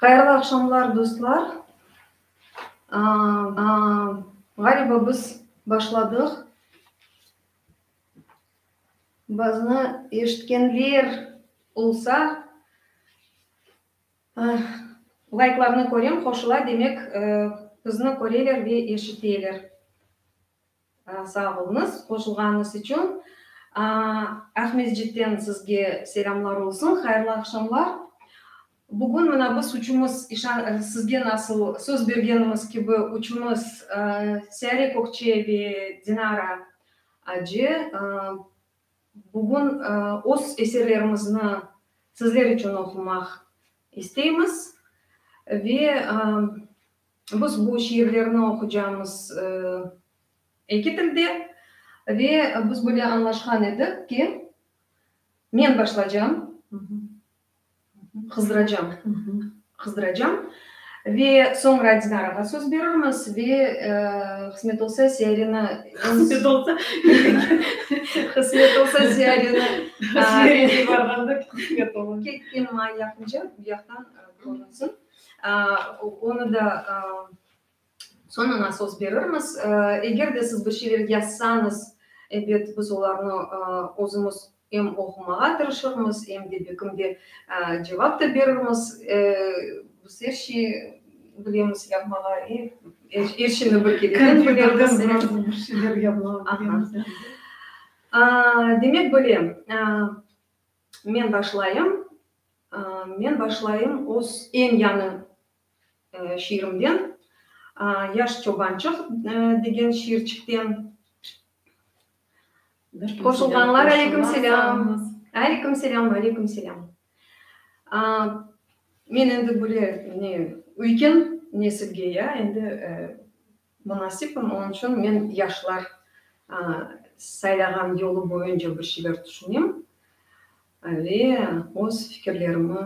Hayırlı aqşamlar dostlar. Aa, aa, ğaliba biz başladıq. Bazı eşitkenler olsa, layklarnı körem, qoşula, demek, bizni köreler ve eşiteler. Sağ oluñız, qoşulğanıñız içün. Aqmescitten sizge selâmlar olsun, hayırlı aqşamlar. Bugün mına biz uçumız, işan, sizge nasıl söz bergenimiz kibi, uçumız Seyare Kökçe ve Dinara Aci bugün öz eserlerimizni sizler içün oqumaq isteymiz. Ve biz bu şiirlerni oqucamız eki tilde. Ve biz böyle añlaşqan edik ki, men başlacam. Qızdıracam, qızdıracam. Ve soñra Dinarağa söz berirmiz ve qısmet olsa Ziyarini, qısmet olsa, qısmet olsa Ziyarini, Ziyarete barğanda qısmet olur. Ketken may yaqınca bu yaqtan körünsin. Onı da Soñ aña söz berirmiz. Eger de siz bir şeyler yazsañız, elbet, biz olarnı özümiz em oqumağa tırışırmız, em de bekimde cevap da berirmiz. Biz er şey bilemiz yapmağa, er şeyni bir kereden bilemiz. Demek, böyle, men başlayım, men başlayım öz eñ yañı şiirimden, Yaş çobançıq degen şiirçikten. Qoşulğanlar aleyküm selâm. Aleyküm selâm, aleyküm selâm. Men endi böyle ne üyken nesilge ya endi. Munasipim, onıñ içün men yaşlar saylağan yolu boyunca bir şeyler tüşünem ve öz fikirlerimi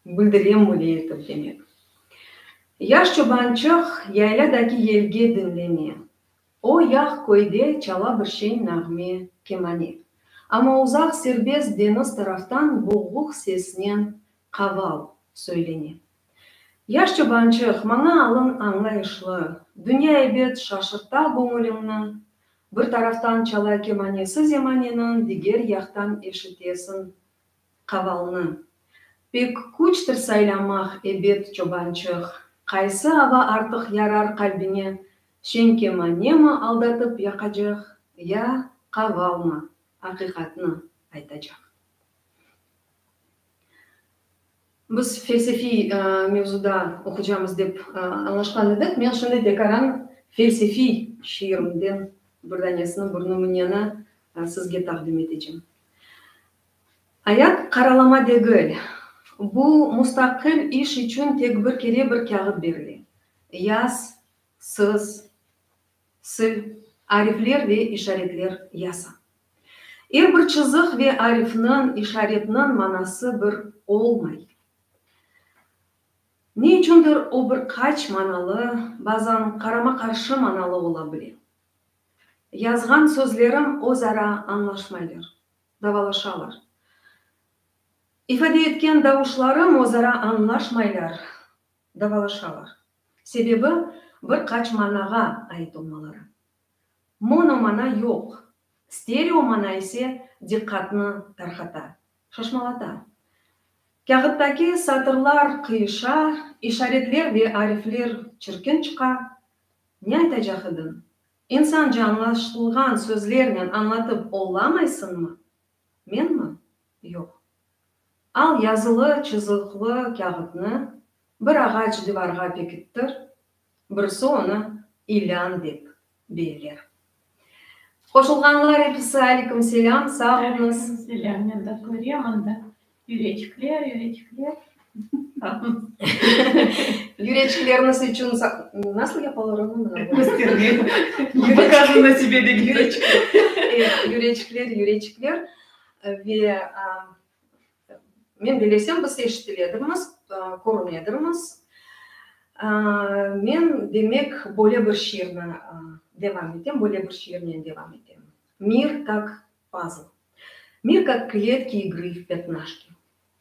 bildirem, böyle etip, demek. Yaş çobançıq yaylâdaki yelge diñleme, o yaq köyde çala bir şeñ nağme, kemane. Amma uzaq serbest deñiz taraftan boğuq sesnen qaval söylene. Yaş çobançıq, maña alın añlayışlı, Dünya ebet şaşırta göñüliñni, Bir taraftan çala kemanesi zemaneniñ, Diger yaqtan eşitesiñ qavalnı. Pek küçtir saylamaq, ebet, çobançıq, Qaysı ava artıq yarar qalbiñe, Şeñ kemanemi aldatıp yaqacaq, Ya qavalmı, aqiqatnı aytacaq. Biz felsefiy mevzuda oqucamız dep añlaşqan edik. Men şimdi Dekaran felsefiy şiirinden bir danesini, bir nümüneni sizge taqdim etecem. Ayat qaralama degil. Bu mustaqil iş içün tek bir kere bir kâğıt berile. Yaz, sız. Sil, arifler ve işaretler yasa. Er bir çızıq ve arifniñ, işaretniñ manası bir olmay. Ne içündir o bir qaç manalı, bazan qarama-qarşı manalı ola bile. Yazğan sözlerim öz ara añlaşmaylar, davalaşalar. İfade etken davuşlarım öz ara añlaşmaylar, davalaşalar. Sebebi, bir qaç manağa ait olmaları. Monomana yoq, stereomana ise diqqatnı tarqata, şaşmalata. Kâğıttaki satırlar qıyışa, işaretler ve arifler çirkin çıqa. Ne aytacaq ediñ? İnsanca añlaşılğan sözlernen añlatıp ollamaysıñmı? Menmi? Yoq. Al yazılı çızıqlı kâğıtnı bir ağaç divarğa pekittir, birisi onı ilân dep beyler. Qoşulğanlar episi Aleykumselâm, sağ olunız. Aleykumselâm, men de körem anda yüreçikler, yüreçikler. Yüreçikleriniz içün nasıl yapalar onu mı? Göstermek, pokazı na sebe degil. Yüreçikler, yüreçikler. Ve men belesem, biz eşitil edirmiz, körün edirmiz. Men, demek, böyle bir şiirni devam etem, böyle bir şiirnen devam etem. Mir, kak pazl. Mir, kak kletki igri v petnaşki.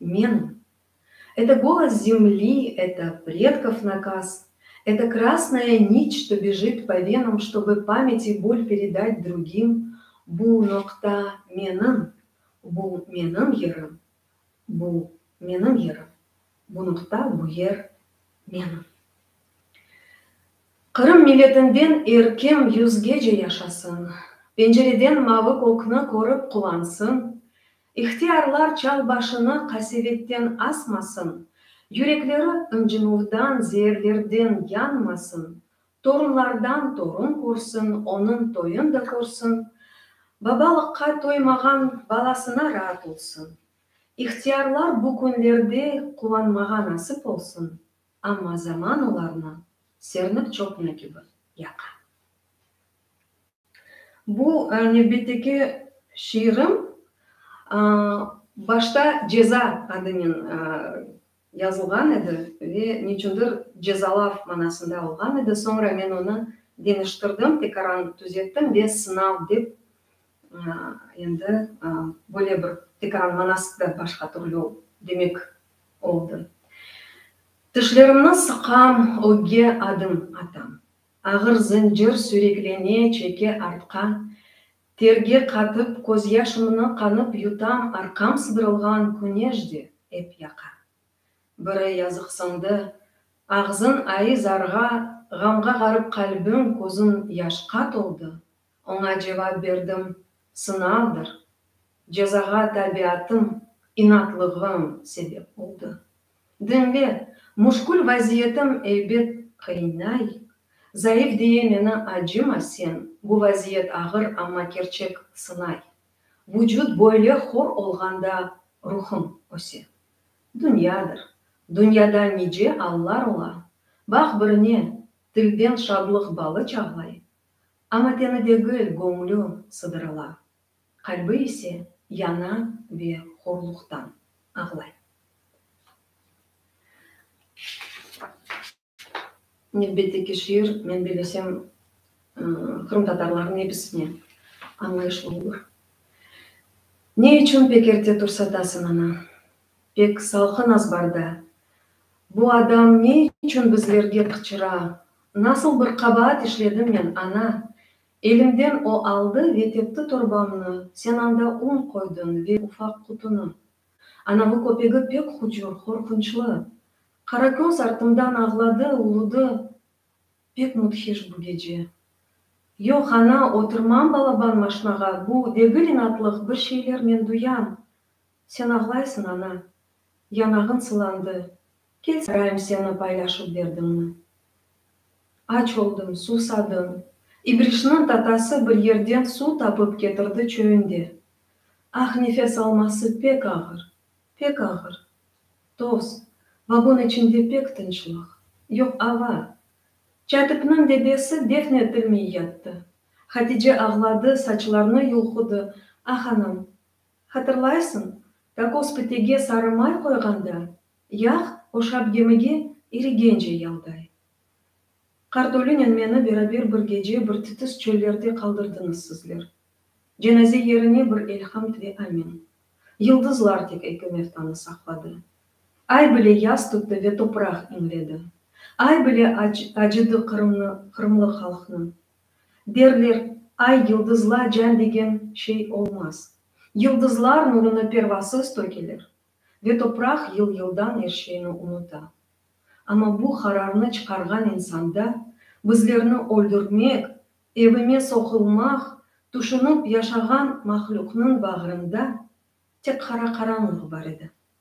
Men, Eto golos zemli, eto predkov nakaz, eto krasnoya niç, çto bežit po venam, ştobe pamet i bol peredat drugim, bu noqta menim, bu menim yerim, bu menim yerim, bu noqta, bu yer menim. Qırım milletinden er kim yüzgece yaşasın, pencereden mavı kökni körip quvansın, İhtiyarlar çal başını qasevetten asmasın, yürekleri ıncınuvdan, zeerlerden yanmasın, torunlardan torun körsin, onıñ toyun da körsin, babalıqqa toymağan balasına raat olsun. İhtiyarlar bu künlerde quvanmağa nasip olsun, amma zaman olarnı sernip çoqna kibi yaqa. Bu nevbetteki şiirim başta Ceza adınen yazılğan edi ve neçündir cezalav manasında olğan edi, soñra men onı deñiştirdim, tekaran tüzettim ve Sınav dep endi böyle bir tekaran manası da başqa türlü demek oldı. Tişlerimni sıqam, ögge adım atam. Ağır zıncır süreklene çeke artqa, Terge qatıp, közyaşımnı qanıp yutam Arqam sıdırılğan küneş de ep yaqa. Biri yazıqsındı, ağzın ayı zarğa, Ğamğa ğarıp qalbim, közün yaşqa toldı, Oña cevap berdim, Sınavdır. Cezağa tabiatım, inatlığım sebep oldı. Diñle, muşkül vaziyetim eybet qıyınay, zayıf diye meni acıma sen, bu vaziyet ağır, amma kerçek sınay. Vucut böyle hor olğanda ruhum öse. Dünyadır. Dünyada nice allar ola. Baq birine, tilden şadlıq balı çağlay, Amma teni degil, göñlü sıdırıla, qalbi ise yana ve horluqtan ağlay. Elbette ki, şiir, men bellesem, qırımtatarlarnıñ episine añlayışlı olur. Ne içün pek erte tursatasıñ, ana? Pek salqın azbarda. Bu adam ne içün bizlerge qıçıra? Nasıl bir qabaat işledim men, ana? Elimden o aldı ve tepti torbamnı, sen anda un qoydıñ ve ufaq qutunı. Anavı köpegi pek hucur, qorqunçlı. Qarakönz artımdan ağladı, uludı. Pek müdhiş bu gece. Yoq, ana, oturmam balaban maşnağa, bu degil inatlıq, bir şeyler men duyam. Sen ağlaysıñ, ana, yanağıñ sılandı, kel sorayım seni paylaşıp berdiñmi? Aç oldım, suvsadım. İbrişniñ tatası bir yerden suv tapıp ketirdi çöyünde. Ah, nefes alması pek ağır, pek ağır. Toz, vagon içinde pek tınçlıq, yoq ava. Çatipniñ debesi defn etilmey yattı. Hatice ağladı, saçlarını yulqudı, Ah, anam, Hatırlaysıñ, Kakos pitege sarı may qoyğanda, yağ oşap gemige irigence yalday. Kartolinen meni beraber bir gece bir titis çöllerde qaldırdıñız sizler. Cenaze yerine bir elhamd ve amin. Yıldızlar tek ekümertanı saqladı. Ay bile yas tuttı ve topraq iñledi. Ay bile acıdı Qırımnı, qırımlı halqnı. Derler, ay, yıldızla can degen şey olmaz. Yıldızlar nurunı pervasız tökeler ve topraq yıl-yıldan er şeyni unuta. Amma bu qararnı çıqarğan insanda bizlerni öldürtmek, evime soqulmaq tüşünip yaşağan mahlüqnıñ bağrında tek qara qaranlıq bar edi.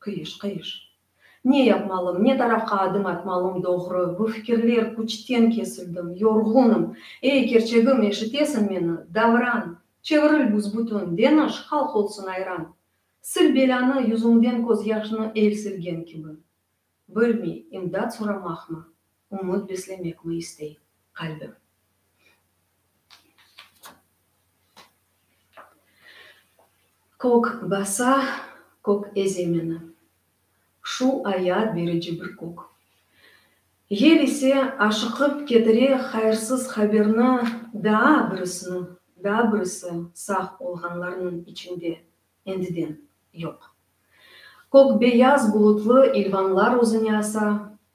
Qıyış, qıyış. Ne yapmalım, ne tarafqa adım atmalım doğru, bu fikirler, küçten kesildim, yorğunım. Ey, kerçegim, eşitesiñ meni, Davran! Çeviril büsbütün, deñiş, halq olsun ayran! Sil belânı, yüzüñden közyaşnı el silgen kibi. Bilmey, imdat soramaqmı? Umut beslemekmi istey qalbim. Kök basa, kök eze meni. Şu ayat berici bir kök. Yel ise aşıqıp ketire hayırsız haberni daa birisini, daa birisi sağ olğanlarnıñ içinde endiden yoq. Kök beyaz bulutlı ilvanlar özüne asa,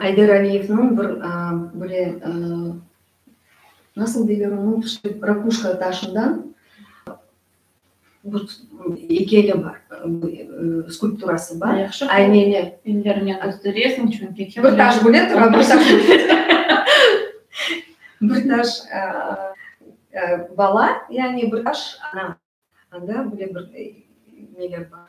Ayder Aliyevniñ bir böyle, nasıl deyler onı, rakuşka taşından bir eykeli bar, skulpturası bar. Yahşı ki, ellerine kösteresiñ, çünki kim bilir. Bir taş böyle tura, bir taş böyle tura. Bir taş bala, yani bir taş ana. Anda böyle bir neler bar.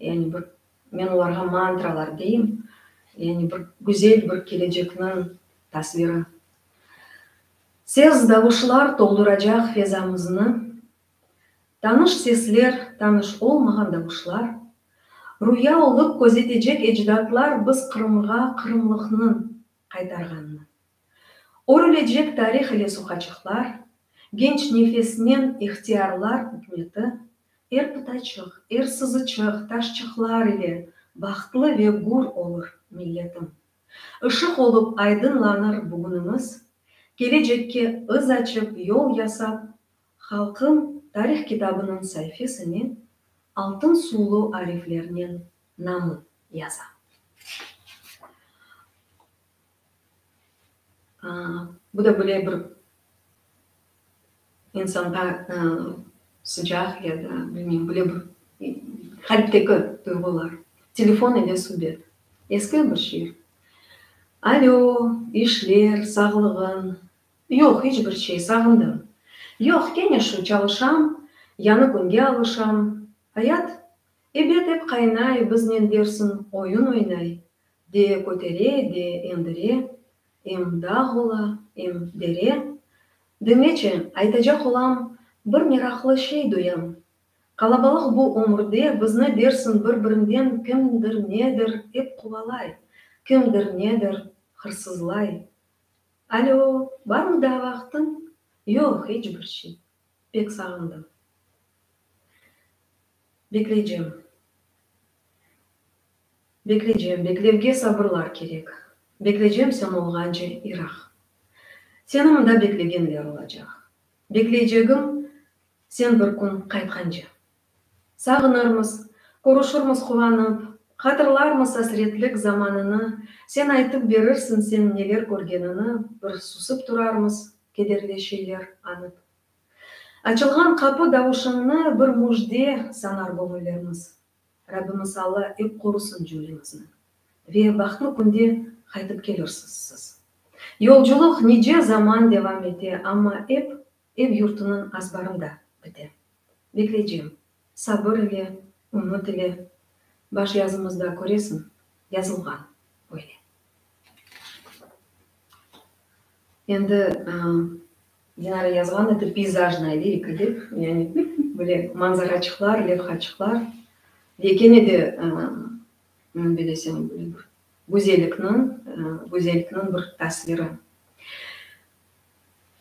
Yani bir, men olarğa mantralar deyim, yani bir güzel bir kelecekniñ tasviri. Ses, davuşlar tolduracaq fezamıznı. Tanış sesler, tanış olmağan davuşlar. Rüya olıp közetecek ecdatlar biz Qırımğa, qırımlıqnıñ qaytarğanını. Örilecek tarih ile soqaçıqlar, genç nefesnen ihtiyarlar ükmeti, er pıtaçıq, er sızıçıq, taşçıqlar ile bahtlı ve gür olur milletim. Işıq olup aydınlanır bugünimiz, kelecekke ız açıp yol yasap Halqım tarih kitabınıñ saifesine altın suvlu ariflernen namın yaza. Bu da böyle bir insanğa sıcaq ya da bilmeyim böyle bir qalpteki duyğular. Telefon ile subet. Eski bir şiir. Alö, işler, sağlığın. Yoq, iç bir şey, sağındım. Yoq, kene şu, çalışam, yañı künge alışam. Ayat? Ebet, ep qaynay, biznen dersiñ, oyun oynay. De kötere, de endire. Em dağ ola, em dere. Diñleçi, aytacaq olam, bir meraqlı şey duyam. Qalabalıq bu ömürde bizni dersiñ bir-birinden kimdir-nedir ep quvalay, kimdir-nedir hırsızlay. Alo, barmı daa vaqtıñ? Yoq, iç bir şey. Pek sağındım. Bekleycem. Bekleycem, beklevge sabırlar kerek. Bekleycem sen olğance iraq. Seni mında beklegenler olacaq. Bekleycegim sen bir kün qaytqance. Sağınırmız, körüşirmiz quvanıp, Hatırlarmız asretlik zamanını, Sen aytıp berirsiñ señ neler körgenini, Bir susıp turarmız kederli şeyler añıp. Açılğan qapı davuşıñnı bir müjde sanar göñüllermiz. Rabbimiz Alla ep qorusın cümlemizni. Ve bahtlı künde qaytıp kelirsiz siz. Yolculıq nice zaman devam ete, amma ep Ev-yurtunıñ azbarında bite. Bekleycem, sabır ile, ümüt ile. Baş yazımızda, köresiñ, yazılğan böyle. Endi, Dinara yazğan edi, peyzajnaya lirika dep, yani böyle manzaraçıqlar, levhaçıqlar ve kene de, bilesem, böyle bir güzellikniñ, güzellikniñ bir tasviri.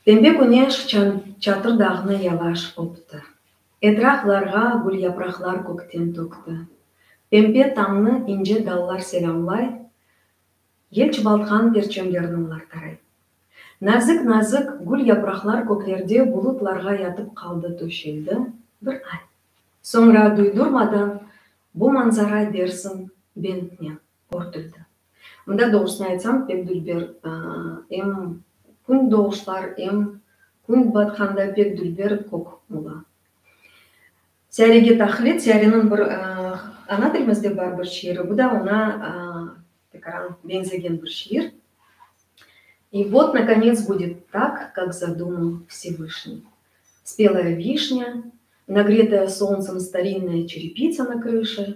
Pembe küneş çatır dağnı yavaş öpti. Etraqlarğa gülyapraqlar kökten tökti. Pembe tañnı ince dallar selâmlay, yel çubaltqan perçemlerini olar taray. Nazik-nazik gülyapraqlar köklerde bulutlarğa yatıp qaldı töşeldi bir ay. Soñra duydurmadan bu manzara dersiñ bentnen. Körküzdi. Mında, doğrusını aytsam, pek dülber, em kün doğuşlar, em kün batqanda pek dülber kök ola. Siyarege taqlit, siyareniñ bir ana tilimizde bar bir şiiri, bu da oña tekaran beñzegen bir şiir. İ vot nakonets budet tak, kak zadumıl Vsevışnıy. Spelaya vişnâ, nagretaya solnsem starinnoye çerepitsa na krışi.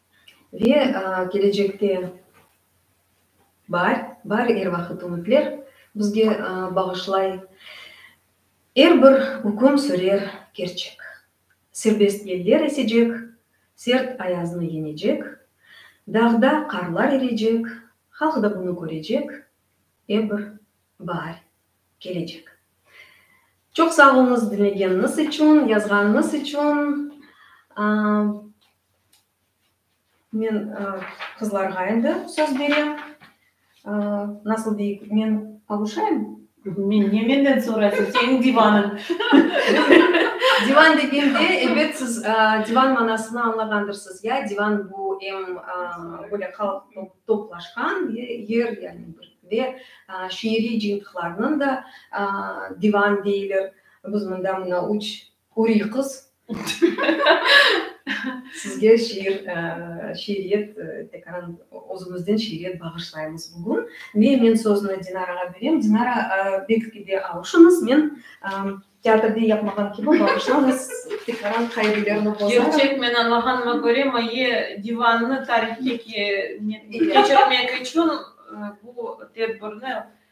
Ve kelecekte bar, bar er vaqıt ümütler bizge bağışlay. Er bir üküm sürer kerçek. Serbest yeller esecek, sert ayaznı yenecek, dağda qarlar erecek, halq da bunı körecek, er bir bar kelecek. Çoq sağ oluñız diñlegeniñiz içün, yazğanıñız içün. Men qızlarğa endi söz berem. Nasıl deyik, men avuşayım? Men ne menden soraysıñ, seniñ divanıñ. Divan degende, elbet, siz divan manasını añlağandırsız, ya? Divan, bu em böyle halq toplaşqan yer, yani bir ve şiiriy cıyıntıqlarnıñ da divan deyler. Biz mında, mına, üç Huriy qız, sizge şiir, şiiriyet, tekaran özümizden şiiriyet bağışlaymız bugün. Ve men sözüni Dinarağa berem. Dinara, belkide avuşıñız, men teatrde yapmağan kibi bağışlañız, tekaran qaidelerni bozarım. Kerçek, men añlağanıma köre, maye divannı tarihke keçirmek içün bu tedbirni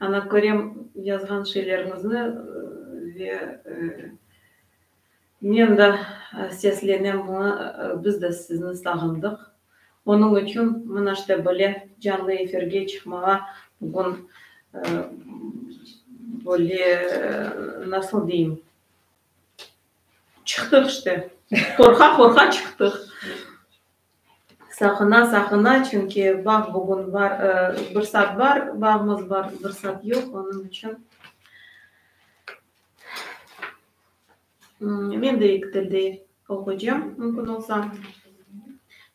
Ana, körem yazğan şeyleriñizni ve men de seslenem buña, biz de sizni sağındıq. Onıñ içün mına işte böyle canlı efirge çıqmağa bugün böyle, nasıl deyim, çıqtıq işte, qorqa-qorqa çıqtıq. Saqına, saqına, çünki bağ bugün bar, bir saat bar, bağımız bar, bir saat yoq, onıñ içün. Men de eki tilde oqucam, mümkün olsa.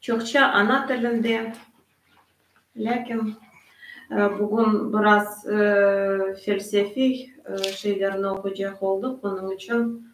Çoqça ana tilinde, lâkin bugün biraz felsefiy şeylerni oqucaq oldıq, onıñ içün.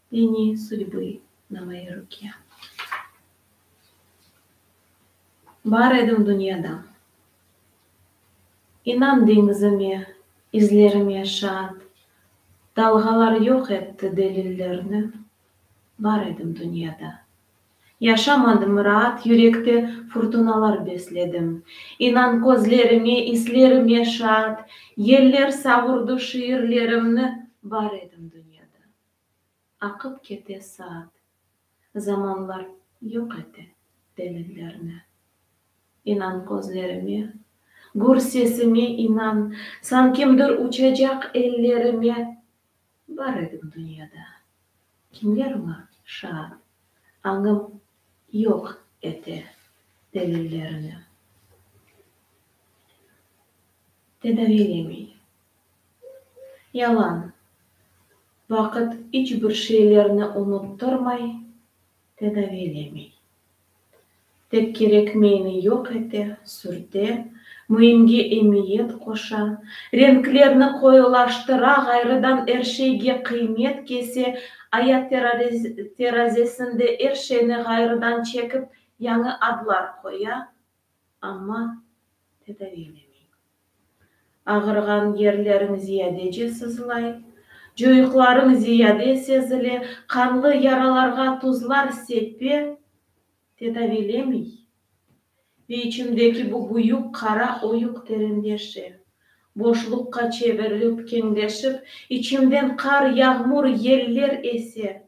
Deni sudbi Navai Rukiya. Bar edim dünyada. İnan deñizime, izlerime şaat, Dalğalar yoq etti delillerni, Bar edim dünyada. Yaşamadım raat yürekte furtunalar besledim, İnan közlerime, islerime şaat, Yeller savurdı şiirlerimni, Bar edim dünyada. Aqıp kete saat, zamanlar yoq ete delillerni. İnan közlerime, gür sesime inan, San kimdir uçacaq ellerime. Bar edim dünyada, kimler oña şaat, Añım yoq ete delillerni. Tedaviylemey. Yalan, vaqıt iç bir şeylerni unuttırmay, tedaviylemey. Tek kerekmeyni yoq ete, sürte, müimge emiyet qoşa, renklerni qoyulaştıra, ğayrıdan er şeyge qıymet kese, ayat terazesinde er şeyni ğayrıdan çekip, yañı adlar qoya, amma tedaviylemey. Ağırğan yerleriñ ziyadece sızlay, coyuqlarıñ ziyade sezile, qanlı yaralarğa tuzlar sepe, tedaviylemey ve içimdeki bu büyük qara oyuq terenleşe, boşluqqa çevirilip keñleşip, içimden qar, yağmur, yeller ese.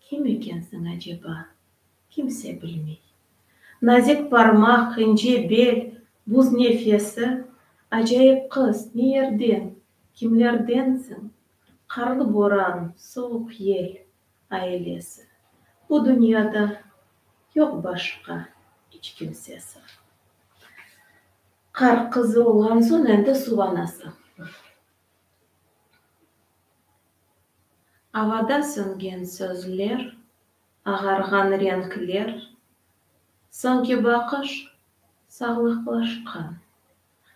Kim ekensiñ aceba? Kimse bilmey. Nazik parmaq, ince bel, buz nefesi, acayip qız, ne yerden, kimlerdensiñ? Qarlı boran, soğuq yel, ailesi. Bu dünyada yoq başqa iç kimsesi. Qar qızı olğan soñ endi suv anası. Avada söngen sözler, ağarğan renkler, soñki baqış, sağlıqlaşqan,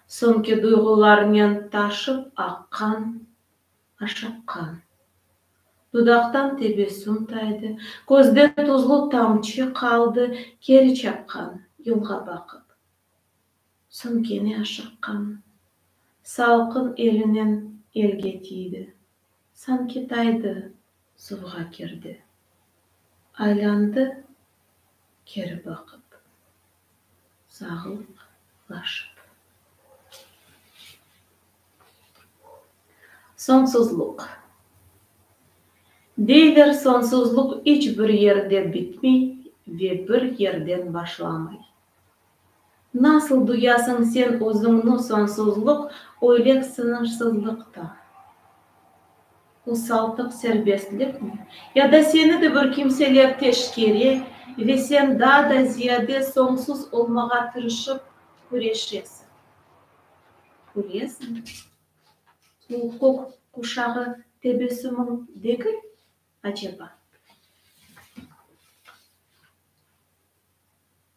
soñki duyğularnen taşıp aqqan, aşıqqan. Dudaqtan tebessüm taydı, közde tuzlu tamçı qaldı, keri çaqqan, yılğa baqıp. Soñ kene aşıqqan. Salqın elinen elge tiydi. Sanki taydı, suvğa kirdi. Aylandı, keri baqıp. Sağlıq laşıp. Soñsuzluq. Deyler, soñsuzluq iç bir yerde bitmey ve bir yerden başlamay. Nasıl duyasıñ sen özüñni sonsuzlıq öyle sıñırsızlıqta? Usaltıq serbestlikmi? Ya da seni de bir kimseler teşkere ve sen daa da ziyade soñsuz olmağa tırışıp küreşesiñ? Küresiñ. Bu kök quşağı tebessümiñ degil, aceba?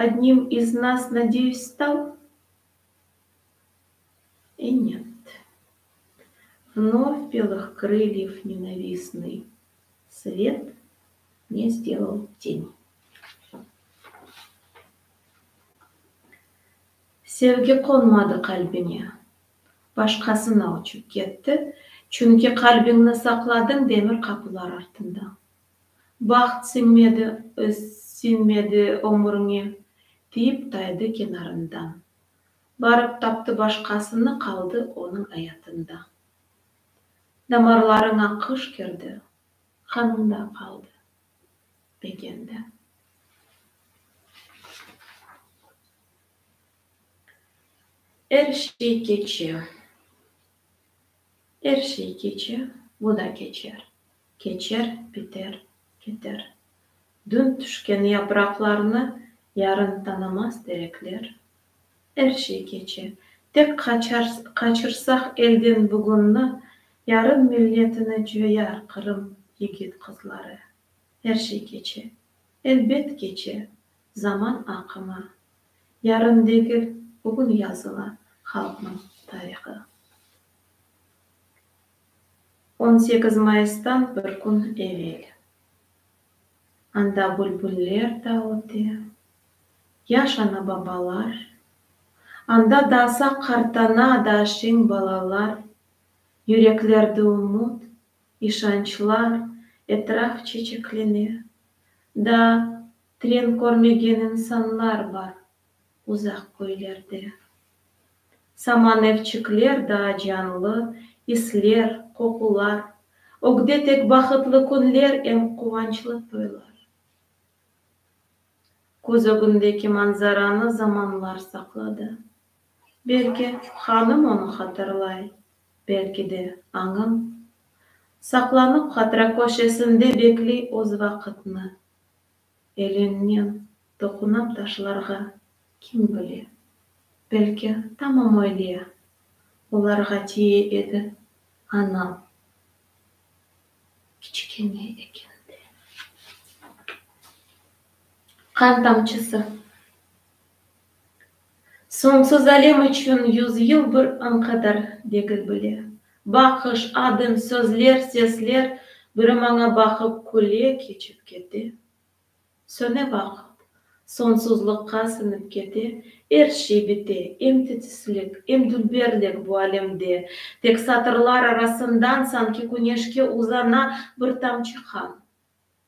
Odnim iz nas, nadeyüs, stal? E, net. Vnovь belih krılyev nenavisnıy svet ne sdelal teni. Sevgi qonmadı qalbine. Başqasına uçıp ketti, çünki qalbiñni saqladıñ demir qapılar artında. Baht siñmedi, öz siñmedi ömüriñe, tiyip taydı kenarından. Barıp taptı başqasını, qaldı onıñ ayatında. Damarlarıña qış kirdi, qanıñda qaldı, begende. Er şey keçe, er şey keçe, bu da keçer. Keçer, biter, keter. Dün tüşken yapraqlarnı yarın tanamaz derekler. Er şey keçe. Tek qaçırsaq elden bugünni, yarın milletini coyar Qırım yigit-qızları. Er şey keçe. Elbet keçe. Zaman aqımı. Yarın degil, bugün yazıla halqnıñ tarihı. On sekiz mayıstan bir kün evel. Anda bülbüller da öte, yaş ana-babalar, Anda dasa qartana da şeñ balalar, Yüreklerde ümüt, işançlar, etraf çeçeklene, Da tren körmegen insanlar bar, Uzaq köylerde. Saman evçikler daa canlı, isler, qoqular, ögde tek bahıtlı künler em quvançlı toylar. Köz ögündeki manzaranı zamanlar saqladı. Belki, hanım onı hatırlay, belki de, añım. Saqlanıp hatıra köşesinde bekliy öz vaqıtnı. Elinnen toqunıp taşlarğa kim bile. Belki tamam öyle olarğa tiye edi, anam kiçikene ekende. Qan tamçısı Soñsuz alem içün yüz yıl bir añ qadar, degil bile. Baqış, adım, sözler, sesler, biri-maña baqıp, küle keçip kete, söne vaqıt, soñsuzlıqqa siñip kete, er şey bite, em titislik, em dülberlik bu alemde, tek satırlar arasından, sanki küneşke uzana bir tamçı qan.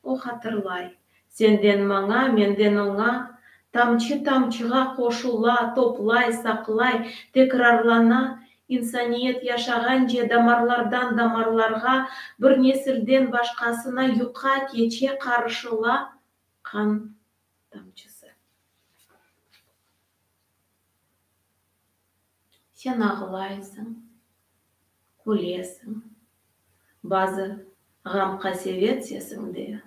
O hatırlay, Senden maña, menden oña, Tamçı tamçığa qoşula, Toplay, saqlay, tekrarlana, İnsaniyet yaşağance Damarlardan damarlarğa, Bir nesilden başqasına Yuqa, keçe, qarışıla, Qan tamçısı. Sen ağlaysıñ, külesiñ, bazı ğam-qasevet sesiñde,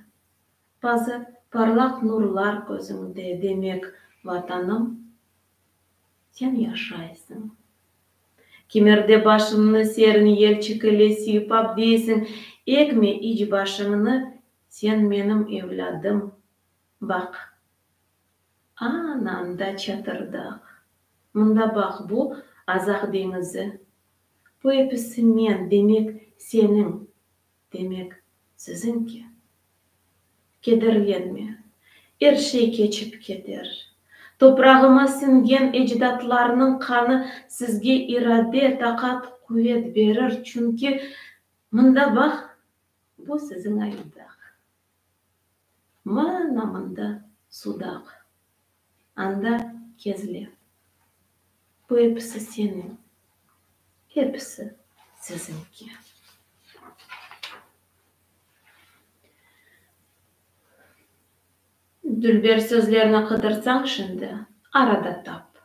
bazı parlaq nurlar közüñde, demek, Vatanım, sen yaşaysıñ. Kimerde başıñnı serin yel çikile siypap deysiñ, Egme iç başıñnı, sen menim evlâdım, Baq, ananda çatırdaq. Mında baq, bu, Azaq deñizi. Bu episi men, demek, seniñ, demek, siziñki. Kederlenme, er şey keçip keter. Toprağıma siñgen ecdatlarnıñ qanı sizge irade, taqat, quvet berir, çünki, mında baq, bu, siziñ ayıdaq. Ma namında sudaq, anda kezle. Bu episi seniñ, episi siziñki. Dülber sözlerni qıdırsañ şimdi, arada tap.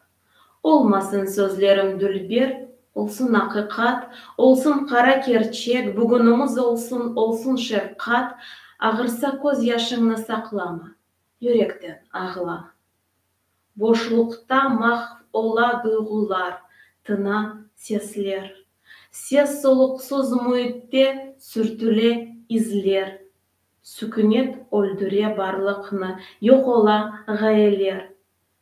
Olmasın sözlerim dülber, Olsun aqiqat, olsun qara kerçek, Bugünüñiz olsun, olsun şefqat, Ağırsa köz yaşıñnı saqlama, Yürekten ağla. Boşluqta mahv ola duyğular, Tina sesler. Ses-soluqsuz müitte sürtüle izler. Sükünet öldüre barlıqnı, Yoq ola ğayeler.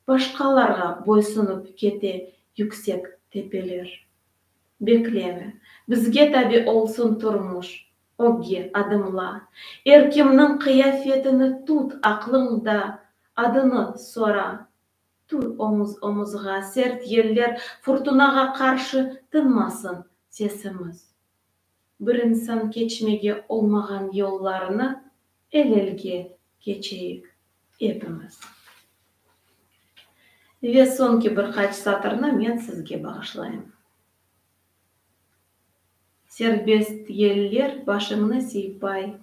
Başqalarğa boysunıp kete yüksek tepeler. Bekleme, bizge tabi olsun turmuş, ögge adımla, er kimniñ qıyafetini tut aqlıñda, adını sora. Tur omuz-omuzğa, sert yeller, furtunağa qarşı tınmasın sesimiz. Bir insan keçmege olmağan yollarını el-elge keçeyik epimiz. Ve soñki bir qaç satırnı men sizge bağışlayım. Serbest yeller başıñnı siypay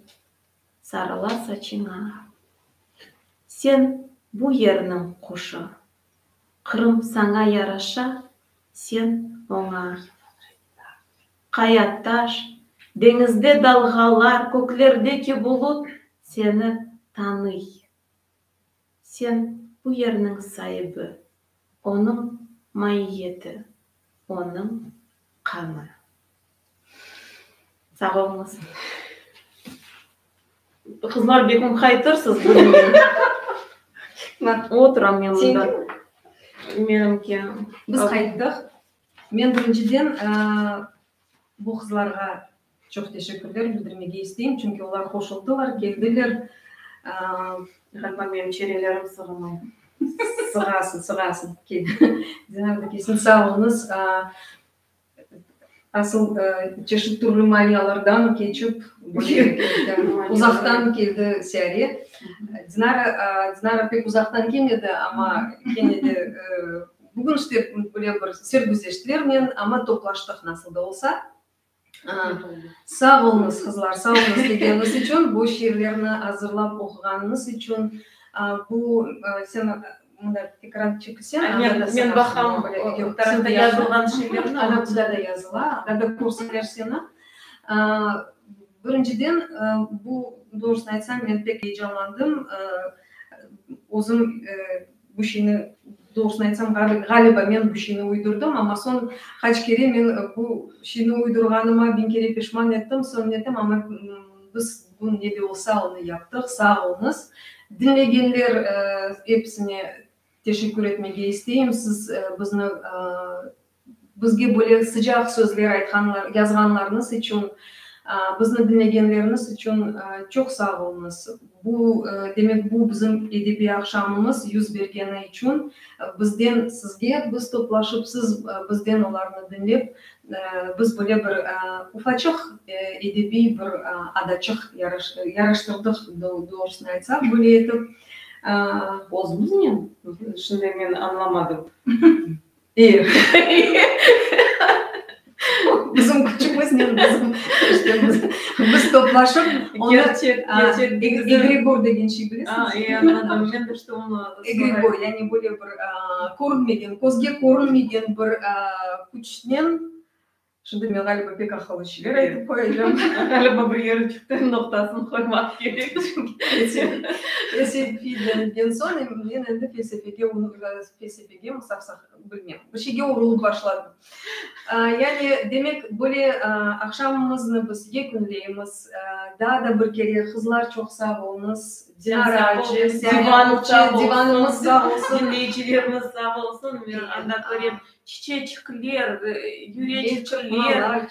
sarıla saçıña. Sen bu yerniñ quşu. Qırım saña yaraşa, sen oña. Qaya taş, deñizde dalğalar, köklerdeki bulut seni tanıy. Sen bu yerniñ saibi, onıñ maiyeti, onıñ qanı. Sağ oluñız. Qızlar bek ümqaytırsız bugün. Oturam men mında. Menimki. Biz qayttıq. Men birinciden bu qızlarğa çoq teşekkürler bildirmege isteyim, çünki olar qoşuldılar, keldiler. Ğaliba menim çenelerim sığmay. Sığasın, sığasın. Sağ oluñız. Asıl çeşit türlü maniyalardan keçip, uzaqtan keldi Sâre. Dinara, Dinara pek uzaqtan kelmedi, amma kene de bugün işte böyle bir sergüzeştlernen, amma toplaştıq nasıl da olsa. Sağ olunız, qızlar, sağ olunız kelgeniñiz içün, bu şiirlerni azırlap oquğanıñız içün. Bu, sen. Mında tekrar çekilse, anda da seni körseler. Birinciden, bu, doğrusını aytsam, men pek eyecanlandım. Özüm bu şeyni, doğrusını aytsam, ğaliba men bu şeyni uydurdım, amma soñ qaç kere men bu şeyni uydurğanıma biñ kere pişman ettim, soñ netem, amma biz, Bugün ne de olsa onı yaptıq. Sağ oluñız. Diñlegenler episine teşekkür etmege isteyim. Siz bizni bizge böyle sıcaq sözler aytqanlar yazğanlarıñız içün, bizni diñlegenleriniz içün çoq sağ oluñız. Bu demek bu bizim edebiy aqşamımız yüz bergeni içün bizden sizge biz toplaşıp siz bizden olarnı diñlep Biz böyle bir ufaçıq edebiy bir adaçıq yaraştırdıq, doğrusını aytsaq, böyle etip. Özümiznen? Şimdi men añlamadım. E, bizim küçümiznen biz toplaşıp, egregor degen şey bilesiñizmi? Egregor, yani böyle bir. körünmegen, közge körünmegen bir küçnen, şimdi men ğaliba pek aqıllı şeyler aytıp qoyacağım, ğaliba bir yeri çıqtı, noqtasını qoymaq kerek, felsefi denilen soñ men endi felsefege, felsefege, bilmem, bir şeyge urılıp başladım. Yani, demek, böyle aqşamımıznı biz yekünleymiz. Daa da bir kere, qızlar, çoq sağ olñız. Dinara acı, divanımız sağ olsun. Diñleyicilerimiz sağ olsun. Men anda körem, çiçeçikler, yüreçikler,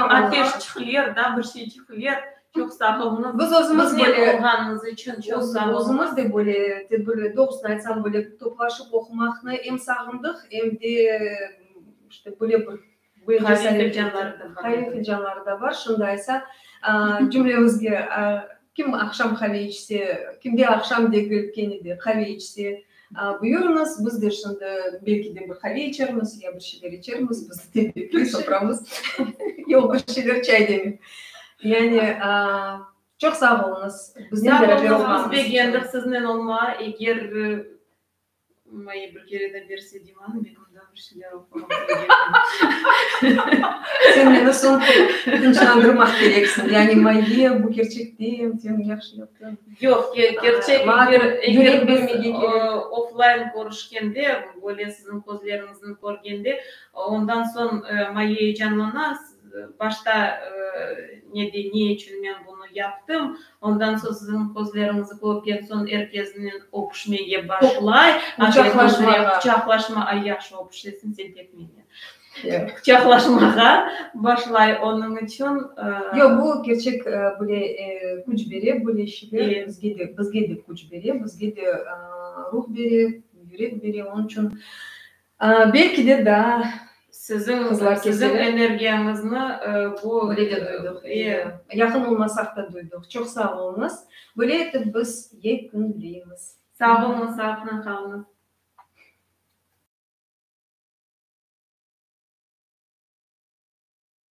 ateşçikler, daa bir şeyçikler. Çoq sağ olunız. Biz özümiz böyle. Bizle olğanınız içün çoq sağ olunız. Özümiz de böyle tedbirli, doğrusını aytsam, böyle toplaşıp oqumaqnı em sağındıq, em de işte böyle bir. Qaviy fincanları da bar. Qaviy fincanları da bar. Şimdi aysa, cümlemizge kim aqşam qaviy içse, kimde aqşam degil, kene de qaviy içse, Buyurıñız, biz de şimdi belki de bir qave içermiz ya bir şeyler içermiz, biz tebrikler soqramız. Yoq, bir şeyler çay demey. Yani, çoq sağ oluñız. Biznen beraber olğanıñız içün. Sağ oluñız, biz begendik siznen olma. Eger, moyi bir kere de berse, Dimanı begendik. Sen meni soñ tınçlandırmaq kereksiñ. Yani Mayviye, bu kerçek degil, sen yahşı yaptıñ. Yoq, kerçek, oflayn körüşkende, böyle siziñ közleriñizni körgende, ondan soñ Mayviye eyecanlana, Başta ne de ne içün men bunı yaptım, ondan soñ siziñ közleriñizni körgen soñ er kesnen öpüşmege başlay, quçaqlaşma, ay, yahşı öpüşesin sen pek menen, quçaqlaşmağa başlay, onıñ içün. Yoq, bu kerçek böyle küç bere, böyle şeyler bizge de küç bere, bizge de ruh bere, yürek bere, onıñ içün. Belki de daa Siziñ energiyañıznı bu Böyle de duydıq, e, yaqın olmasaq da duydıq. Çoq sağ oluñız. Böyle etip biz yekünleymiz. Sağ oluñız, sağlıqnen qalıñız.